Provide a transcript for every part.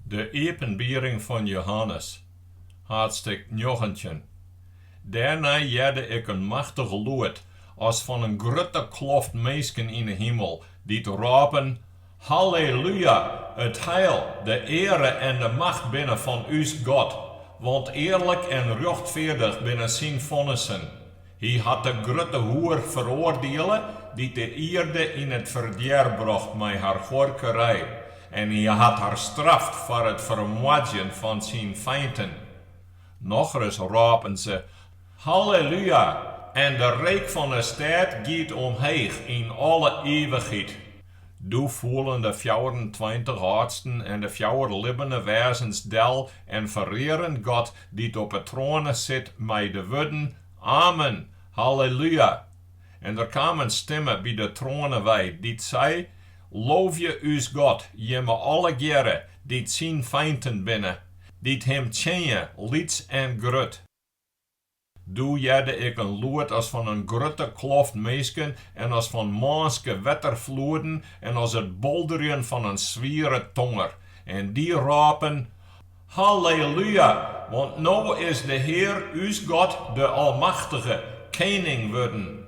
De iepenbiering fan Jehannes, haadstik njoggentjin. Dêrnei hearde ik in machtich lûd, as fan in grutte kloft minsken yn 'e himel, dy't rôpen, Hallelúja! It heil, de eare en de macht binne fan ús God, want earlik en rjochtfeardich binne syn fonnissen. Hy hat de grutte hoer feroardiele dy't de ierde yn it ferdjer brocht mei har huorkerij, en hy hat har straft foar it fermoardzjen fan syn feinten. Nochris rôpen se, Hallelúja! En de reek fan 'e stêd giet omheech yn alle ivichheid. Doe foelen de fjouwerentweintich âldsten en de fjouwer libbene wêzens del en ferearen God dy't op 'e troane sit mei de wurden, Amen! Hallelúja! En der kaam in stimme by de troane wei, dy't sei, Loovje ús God, jimme allegearre dy't syn feinten binne, dy't him tsjinje, lyts en grut. Doe hearde ik in lûd as fan in grutte kloft minsken en as fan mânske wetterfloeden en as it bolderjen fan in swiere tonger. En dy rôpen, Hallelúja! Want no is de Hear ús God de Almachtige, kening wurden.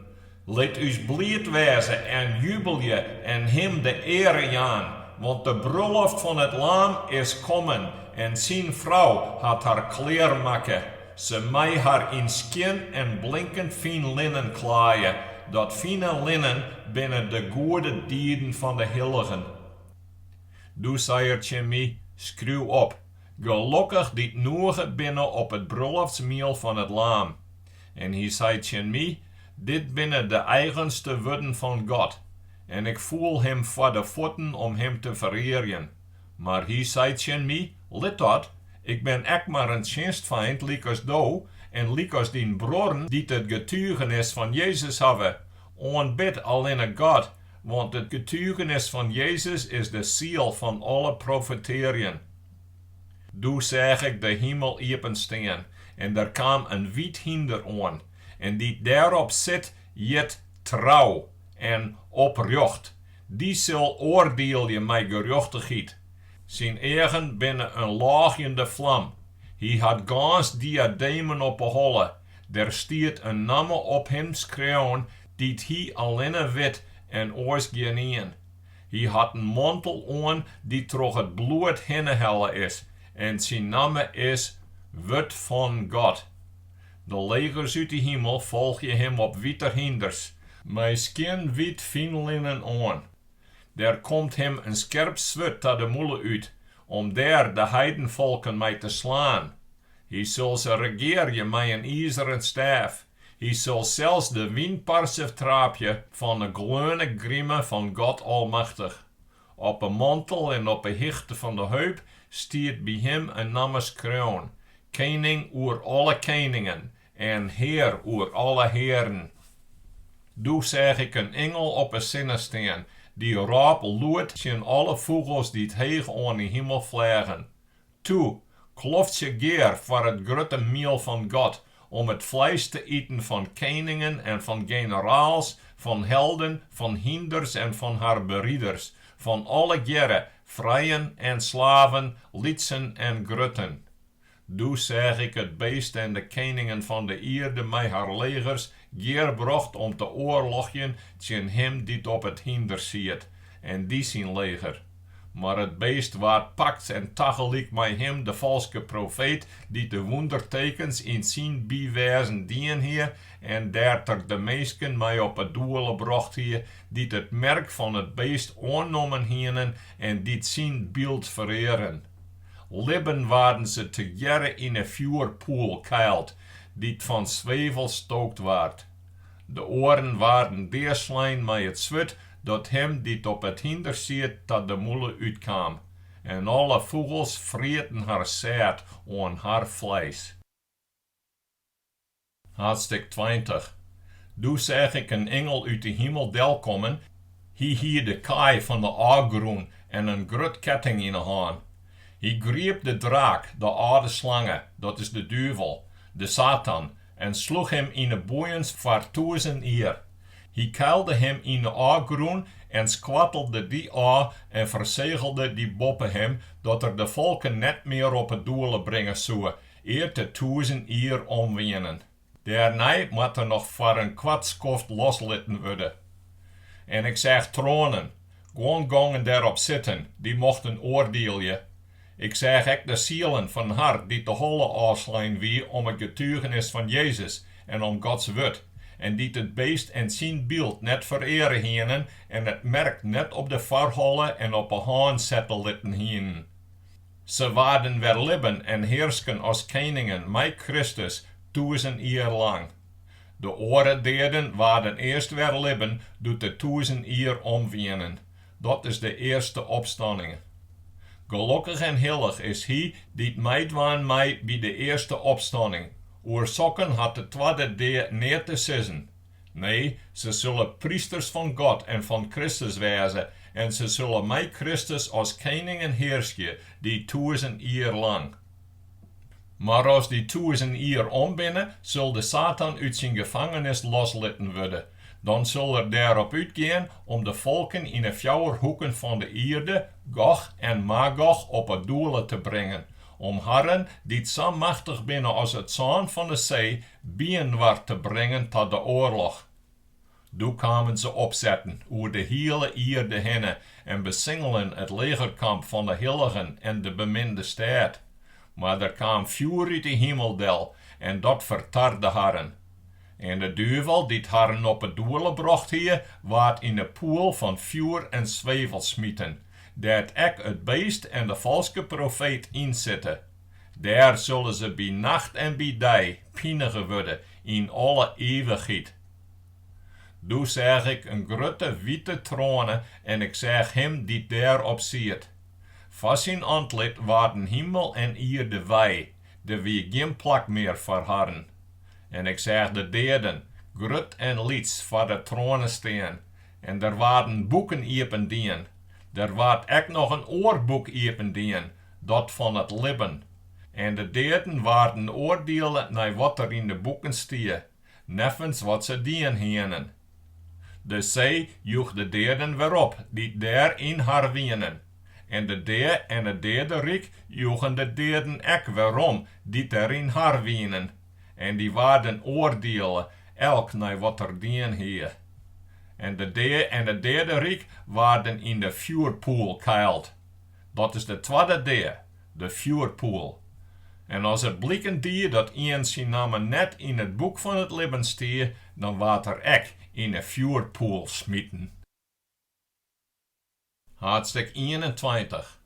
Lit ús bliid wêze en jubelje en Him de eare jaan, want de brulloft fan it Laam is kommen en Syn Frou hat har klear makke. Se mei har yn skjin en blinkend fyn linnen klaaie, dat fine linnen binne de goede dieden fan de hilligen. Doe sei er tsjin my, Skriuw op, Gelokkich dy't noege binne op it brulloftsmiel fan it Laam. En hy sei tsjin my, Dit binne de eigenste wurden fan God. En ik foel him foar de fuotten om him te ferearjen. Mar hy sei tsjin my, Lit dat, ik bin ek mar in tsjinstfeint lykas do en lykas dyn bruorren dy't it getugenis fan Jezus hawwe. Oanbid allinne God, want it getugenis fan Jezus is de siel fan alle profetearjen. Doe seach ik de himel iepen stean, en der kaam in wyt hynder oan, en dy't dêrop sit, hjit Trou en Oprjocht, dy sil oardielje mei gerjochtichheid. Syn eagen binne in lôgjende flam, hy hat gâns diademen op 'e holle, der stiet in namme op him skreaun dy't hy allinne wit en oars gjinien. Hy hat in mantel oan dy't troch it bloed hinne helle is, en syn namme is Wurd fan God. De legers út de himel folgje him op wite hynders, mei skjin wyt fynlinnen oan. Der komt him in skerp swurd ta de mûle út, om dêr de heidenfolken mei te slaan. Hy sil se regearje mei in izeren stêf, Hy sil sels de wynparse traapje fan 'e gleone grime fan God Almachtich. Op 'e mantel en op 'e hichte fan 'e heup stiet by him in namme skreaun, Kening oer alle keningen en Hear oer alle hearen. Doe seach ik in ingel op 'e sinne stean, dy rôp lûd tsjin alle fûgels dy't heech oan 'e himel fleagen, Toe, kloftsje gear foar it grutte miel fan God, om it fleis te iten fan keningen en fan generaals, fan helden, fan hynders en fan har beriders, fan allegearre, frijen en slaven, lytsen en grutten. Doe seach ik it beest en de keningen fan de ierde mei har legers gearbrocht om te oarlochjen tsjin him dy't op it hynder siet en dy syn leger. Mar it beest waard pakt en tagelyk mei him de falske profeet, dy't de wûndertekens yn syn bywêzen dien hie en dêr't er de minsken mei op 'e doele brocht hie, dy't it merk fan it beest oannommen hienen en dy't syn byld ferearen. Libben waarden se tegearre yn 'e fjoerpoel keild, dy't fan swevel stookt waard. De oaren waarden deaslein mei it swurd dat him dy't op it hynder siet ta de mûle útkaam, en alle fûgels frieten har sæd oan har fleis. Haadstik tweintich. Doe seach ik in ingel út de himel delkommen, hy hie de kaai fan de ôfgrûn en in grut ketting yn 'e hân. Hy griep de draak, de âlde slange, dat is de duvel, de Satan, En sloech him yn 'e boeiens foar tûzen jier. Hy keilde him yn 'e ôfgrûn en skoattelde dy ôf en fersegelde dy boppe him, dat er de folken net mear op 'e doele bringe soe, ear't de tûzen jier om wienen. Dêrnei moat er noch foar in koart skoft loslitten wurde. En ik seach troanen, guon gongen dêrop sitten, dy mochten oardielje. Ik seach ek de sielen fan har dy't de holle ôfslein wie om it getugenis fan Jezus en om Gods wurd, en dy't it beest en syn byld net fereare hienen en it merk net op de foarholle en op 'e hân sette litten hienen. Se waarden wer libben en hearsken as keningen mei Kristus tûzen jier lang. De oare deaden waarden earst wer libben doe't de tûzen jier om wienen. Dat is de earste opstanning. Gelokkich en hillich is hy dy't meidwaan mei by de earste opstanning. Oer sokken hat de twadde dea neat te sizzen. Nee, se sille prysters fan God en fan Kristus wêze en se sille mei Kristus as keningen hearskje dy tûzen jier lang. Mar as dy tûzen jier om binne, sil de Satan út syn gefangenis loslitten wurde. Dan sil er dêrop útgean om de folken yn 'e fjouwer hoeken fan de ierde, Gog en Magog, op 'e doele te bringen, om harren, dy't sa machtich binne as it sân fan 'e see, byinoar te bringen ta de oarloch. Doe kamen se opsetten oer de hiele ierde hinne en besingelen it legerkamp fan 'e hilligen en de beminde stêd. Mar der kaam fjoer út 'e himel del en dat fertarde harren. En de duvel, dy't harren op 'e doele brocht hie, waard yn 'e poel fan fjoer en swevel smiten, dêr't ek it beest en de falske profeet yn sitte. Dêr sille se by nacht en by dei pinige wurde yn alle ivichheid. Doe seach ik in grutte wite troane en ik seach Him dy't dêr op siet. Foar syn antlit waarden himel en ierde wei, der wie gjin plak mear foar harren. En ik seach de deaden, grut en lyts, foar de troane stean, en der waarden boeken iependien, der waard ek noch in oar boek iependien, dat fan it libben, en de deaden waarden oardiele nei wat der yn de boeken stie, neffens wat se dien hienen. De see joech de deaden wer op dy't der yn har wienen, en de dea en it deaderyk joegen de deaden ek werom dy't der yn har wienen, en dy waarden oardiele, elk nei wat er dien hie. En de dea en it deaderyk waarden yn de fjoerpoel keild. Dat is de twadde dea, de fjoerpoel. En as it bliken die dat ien syn namme net yn it boek fan it libben stie, dan waard er ek yn 'e fjoerpoel smiten. Haadstik ienentweintich.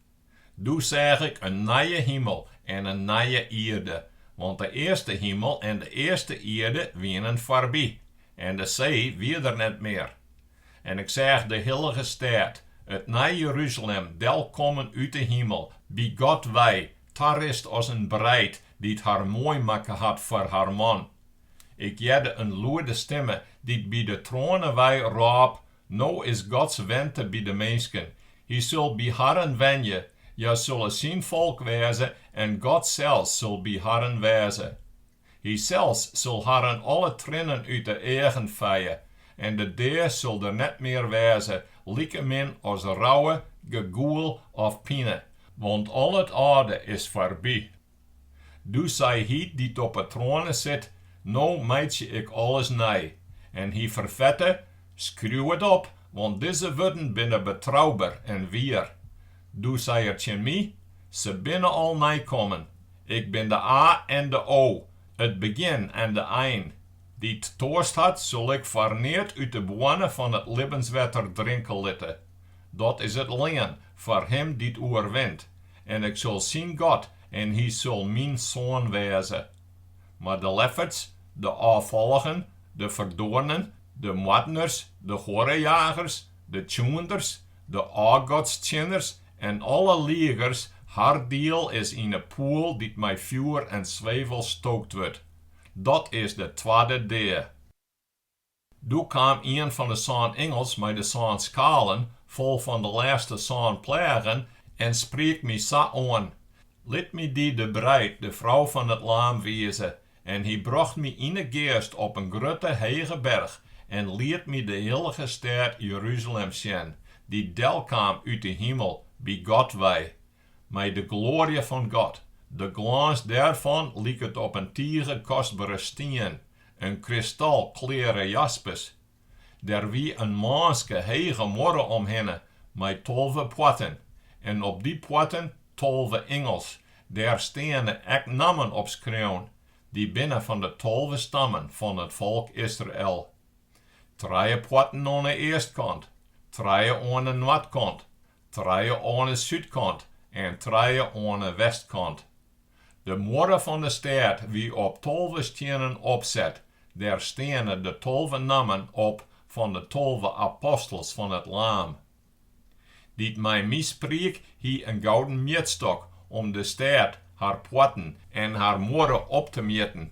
Doe seach ik in nije himel en in nije ierde, want de earste himel en de earste ierde wienen foarby, en de see wie der net mear. En ik seach de hillige stêd, it nije Jeruzalem, delkommen út de himel, by God wei, tarist as in breid, dy't har moai makke hat foar har man. Ik hearde in lûde stimme, dy't by de troane wei, rôp, No is Gods wente by de minsken, hy sil by harren wenje, hja sille syn folk wêze en God sels sil by harren wêze. Hysels sil harren alle triennen út 'e eagen feie, en de dea sil der net mear wêze, likemin as rouwe, gegoel of pine, want al it âlde is foarby. Doe sei Hy dy't op 'e troane sit, No meitsje ik alles nij. En hy ferfette, Skriuw it op, want dizze wurden binne betrouber en wier. Doe sei er tsjin my, Se binne al neikommen. Ik bin de A en de O, it begjin en de ein. Dy't toarst hat, sil ik foar neat út de boarne fan it libbenswetter drinke litte. Dat is it lean foar him dy't oerwint, en ik sil syn God en hy sil myn soan wêze. Mar de lefferts, de ôffalligen, de ferdoarnen, de moardners, de huorrejagers, de tsjoenders, De ôfgodstsjinners en alle ligers har diel is yn 'e poel dy't mei fjoer en swevel stookt wurdt. Dat is de twadde dea. Doe kaam ien fan 'e sân ingels mei de sân skalen fol fan de lêste sân pleagen en spriek my sa oan, Lit my dy de breid, de frou fan it laam, wize, En hy brocht my yn 'e geast op in grutte hege berch en liet my de hillige stêd Jeruzalem sjen, dy't delkaam út 'e himel by God wei, mei de gloarje fan God, de glâns dêrfan liket op in tige kostbere stien, in kristalkleare jaspis. Der wie in mânske hege muorre omhinne mei tolve poarten en op dy poarten tolve ingels, dêr steane ek nammen op skreaun, dy binne fan de tolve stammen fan it folk Israel. Trije poarten oan 'e eastkant, trije oan 'e noardkant, Trije oan 'e súdkant en trije oan 'e westkant. De muorre fan 'e stêd wie op tolve stiennen opset, dêr steane de tolve nammen op fan de tolve apostels fan it Laam. Dy't mei my spriek hie in gouden mjitstok om de stêd, har poarten en har muorre op te mjitten.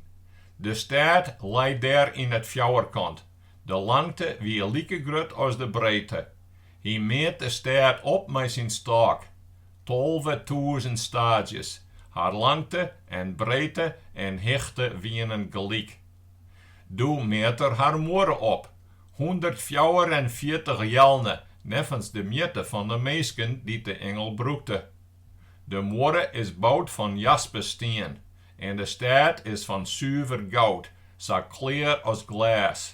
De stêd lei dêr yn it fjouwerkant, de langte wie like grut as de breedte. Hy meat de stêd op mei syn stôk, tolve tûzen staadzjes, har langte en breedte en hichte wienen gelyk. Doe meat er har muorre op, hûndertfjouwerenfjirtich jelne neffens de mjitte fan de minsken dy't de ingel brûkte. De muorre is boud fan jaspisstien en de stêd is fan suver goud, sa klear as glês.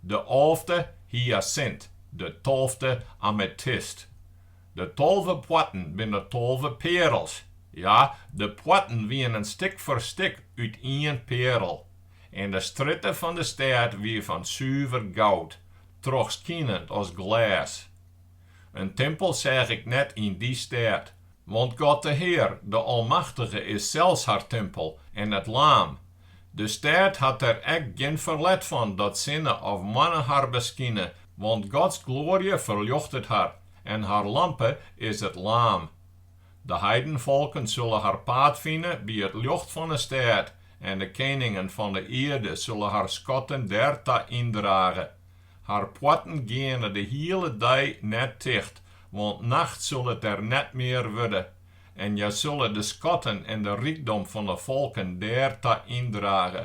De alfte hyasint, de tolfte ametist. De tolve poarten binne tolve pearels. Ja, de poarten wienen stik foar stik út ien pearel. En de strjitte fan de stêd wie fan suver goud, trochskinend as glês. In timpel seach ik net yn dy stêd, Want God de Hear, de Almachtige, is sels har timpel, en it Laam. De stêd hat der ek gjin ferlet fan dat sinne of moanne har beskine, want Gods gloarje ferljochtet har, en har lampe is it Laam. De heidenfolken sulle har paad fine by it ljocht fan 'e stêd, en de keningen fan 'e ierde sulle har skatten dêr ta yndrage. Har poarten geane de hiele dei net ticht, want nacht sil it der net mear wurde, en hja sille de skatten en de rykdom fan de folken dêr ta yndrage.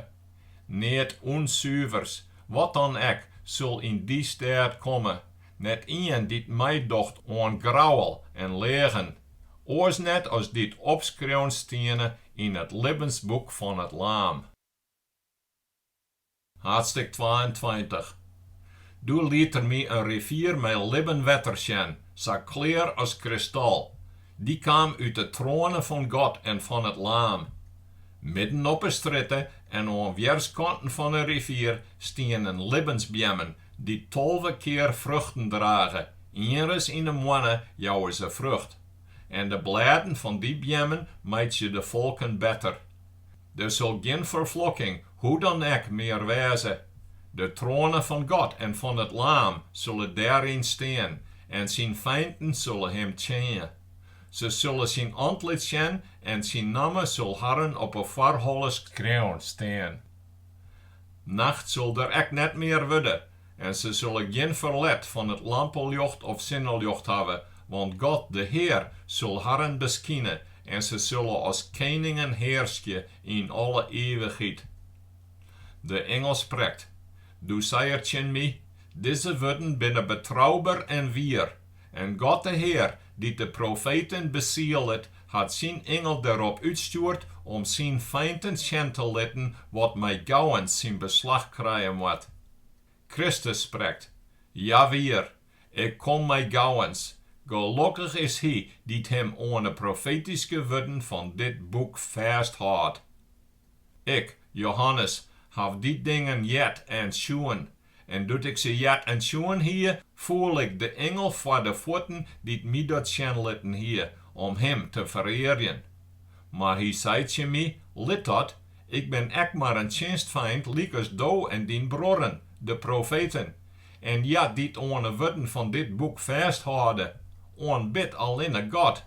Neat ûnsuverds, wat dan ek, sil yn dy stêd komme, net ien dy't meidocht oan grouwel en leagen, oars net as dy't opskreaun stiene yn it libbensboek fan it Laam. Haadstik twaentweintich. Doe liet er my in rivier mei libben wetter sjen, sa klear as kristal, dy kaam út de troane fan God en fan it Laam. Midden op 'e strjitte en oan wjerskanten fan 'e rivier stienen libbensbeammen, dy't tolve kear fruchten drage, ienris yn 'e moanne jouwe se frucht. En de blêden fan dy beammen meitsje de folken better. Der sil gjin ferflokking hoe dan ek mear wêze. De troane fan God en fan it Laam sille dêryn stean en syn feinten sille him tsjinje. Se sille syn antlit sjen en syn namme sil harren op 'e foarholle skreaun stean. Nacht sil der ek net mear wurde, En se sille gjin ferlet fan it lampeljocht of sinneljocht hawwe, want God, de Hear, sil harren beskine en se sille as keningen hearskje yn alle ivichheid. De ingel sprekt, Doe sei er tsjin my, Dizze wurden binne betrouber en wier, en God de Hear, dy't de profeten besielet, hat syn ingel derop útstjoerd om syn feinten sjen te litten, wat mei gauwens syn beslach krije moat. Kristus sprekt, Jawier, Ik kom mei gauwens, gelokkich is hy dy't him oan 'e profetyske wurden fan dit boek fêsthâldt. Ik, Johannes, haw dy dingen heard en sjoen, en doe't ik se heard en sjoen hie, foel ik de ingel foar de fuotten dy't my dat sjen litten hie, om him te ferearjen. Mar hy sei tsjin my, Lit dat, ik bin ek mar in tsjinstfeint lykas do en dyn bruorren, de profeten. En hja dy't oan 'e wurden fan dit boek fêsthâlde, oanbid allinne God.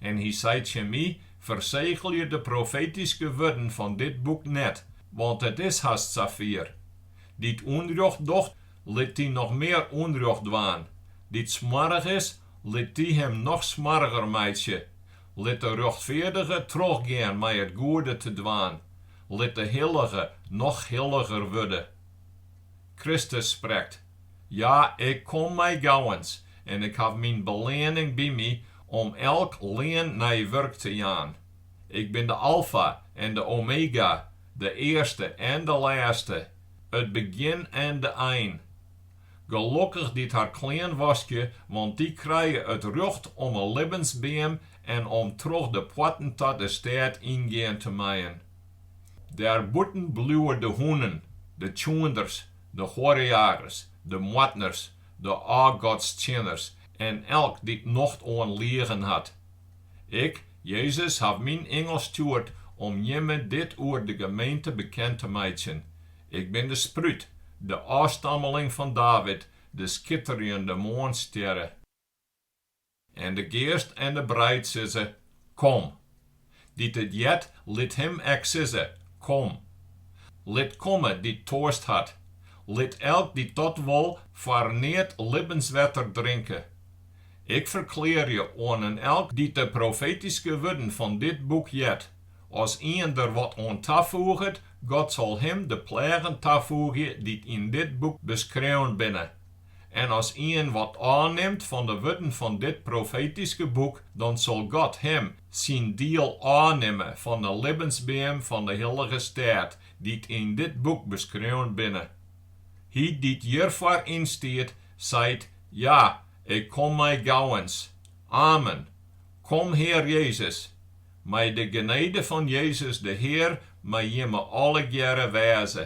En hy sei tsjin my, Fersegelje de profetyske wurden fan dit boek net, want it is hast safier. Dy't ûnrjocht docht, lit dy noch mear ûnrjocht dwaan, dy't smoarch is, lit dy him noch smoarcher meitsje, Lit de rjochtfeardige trochgean mei it goede te dwaan, lit de hillige noch hilliger wurde. Kristus sprekt, Ja, Ik kom mei gauwens, en Ik haw Myn beleanning by My om elk lean nei wurk te jaan. Ik bin de Alfa en de Omega, de earste en de lêste, it begjin en de ein. Gelokkich dy't har klean waskje, want dy krije it rjocht om 'e libbensbeam en om troch de poarten ta de stêd yngean te meien. Dêrbûten bliuwe de hûnen, de tsjoenders, de huorrejagers, de moardners, de ôfgodstsjinners en elk dy't nocht oan liegen hat. Ik, Jezus, haw myn ingel stjoerd om jimme dit oer de gemeente bekend te meitsjen. Ik bin de sprút, de ôfstammeling fan David, de skitterjende moarnstjerre. En de geast en de breid sizze, Kom! Dy't it heart, lit him ek sizze, Kom! Lit komme dy't toarst hat, lit elk dy't dat wol foar neat libbenswetter drinke. Ik ferklearje oan in elk dy't de profetyske wurden fan dit boek heart, As ien der wat oan tafoeget, God sil him de pleagen tafoegje dy't yn dit boek beskreaun binne. En as ien wat ôfnimt fan de wurden fan dit profetyske boek, dan sil God him syn diel ôfnimme fan de libbensbeam fan de hillige stêd, dy't yn dit boek beskreaun binne. Hy dy't hjirfoar ynstiet, seit, Ja, ik kom mei gauwens. Amen. Kom, Hear Jezus. Mei de genede fan Jezus de Hear mei jimme allegearre wêze.